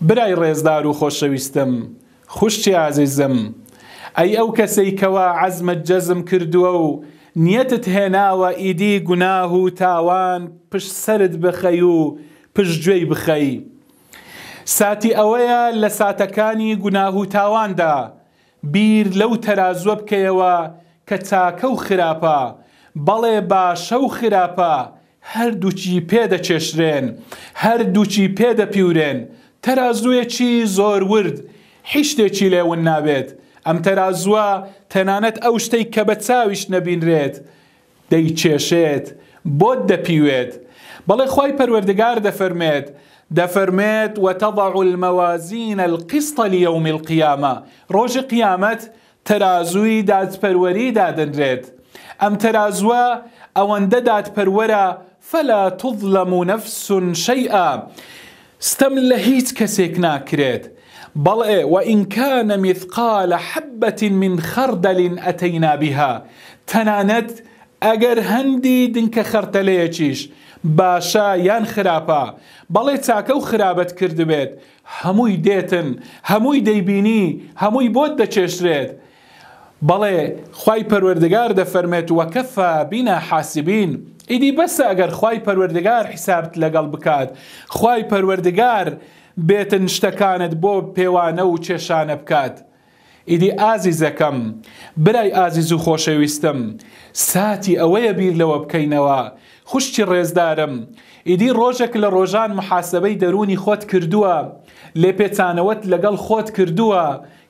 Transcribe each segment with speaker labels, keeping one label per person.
Speaker 1: برای ڕێزدار و خۆشەویستم، خوشکی ئازیزم، ئەی ئەو کەسەی کەوا عەزمت جەزم کردووە و نیەتت هێناوە ئیدی گوناه و تاوان پشت سەرت بخەی و پشت گوێی بخەی ساتی ئەوەیە لە ساتەکانی گوناه و تاواندا بیر لەو تەرازوە بکەیەوە کە چاکە و خراپە، بەڵێ باشە و خراپە هەردووکی پێ دەکێشرێن، هەردووکی پێ دەپیورێن، تەرازویەکی زۆر ورد حیشتێکی لێ ون نابێت، ئەم تەرازوە تەنانەت ئەو شتەی کە بە چاویش نەبینرێت دەیکێشێت، بۆت دەپیوێت. بەڵێ خوای پەروەردگار دەفەرموێت، دەفەرموێت، وتضع الموازین القسط لیوم القیامە، ڕۆژی قیامەت تەرازووی دادپەروەری دادەنرێت، ئەم تەرازووە ئەوەندە دادپەروەرە، فلا تظلم نفس شیئا، ستەم لە هیچ کەسێک ناکرێت، بەڵێ وان کان مثقال حبە من خردل اتینا بها، تەنانەت ئەگەر هەندی دنکە خەرتەلەیەکیش باشە یان خراپە، بەڵێ چاکە و خرابەت کردبێت، هەمووی دێتن، هەمووی دەیبینی، هەمووی بۆت دەکێشرێت، بەڵێ خوای پەروەردگار دەفەرمێت، وکفی بنا حاسبین، ئیدی بەسە ئەگەر خوای پەروەردگار حیسابت لەگەڵ بکات، خوای پەروەردگار بێتن شتەکانت بۆ پێوانە و چێشانە بکات. ئیدی ئازیزەکەم، برای ئازیز و خۆشەویستم، ساتی ئەوەیە بیر لەوە بکەینەوە، خوشکی ڕێزدارم، ئیدی ڕۆژێک لە ڕۆژان محاسبەی دەروونی خۆت کردووە، لێپێچانەوەت لەگەڵ خۆت کردووە،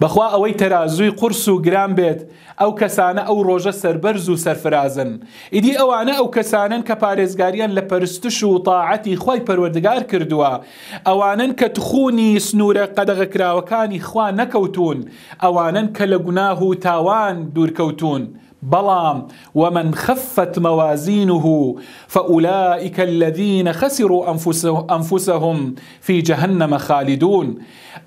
Speaker 1: بەخوا ئەوەی تەرازووی قورس و گران بێت ئەو کەسانە ئەو ڕۆژە سەربەرز و سەرفرازن ئیدی ئەوانە ئەو کەسانەن کە پارێزگاریان لە پەرستش و تاعەتی خوای پەروەردگار کردووە ئەوانەن کە تخوونی سنوورە قەدەغەکراوەکانی خوا نەکەوتوون ئەوانەن کە لە گوناه و تاوان دوورکەوتوون بەڵام، ومن خفت موازینه فاولائک الذین خسروا انفسهم فی جهنم خالدون،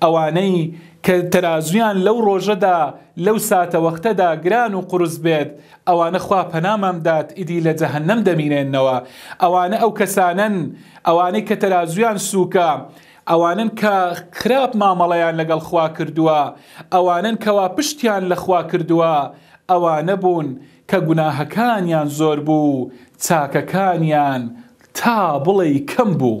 Speaker 1: ئەوانەی کە تەرازویان لەو ڕۆژەدا، لەو ساتەوەختەدا گران و قورس بێت، ئەوانە خوا پەنامان بدات ئیدی لە جەهەنەم دەمینێنەوە، ئەوانە ئەو کەسانەن ئەوانەی کە تەرازویان سوکە، ئەوانەن کە خراپ مامەڵەیان لەگەڵ خوا کردووە، ئەوانەن کەوا پشتیان لە خوا کردووە، ئەوانە بوون کە گوناهەکانیان زۆر بوو و چاکەکانیان تا بڵێی کەم بوو.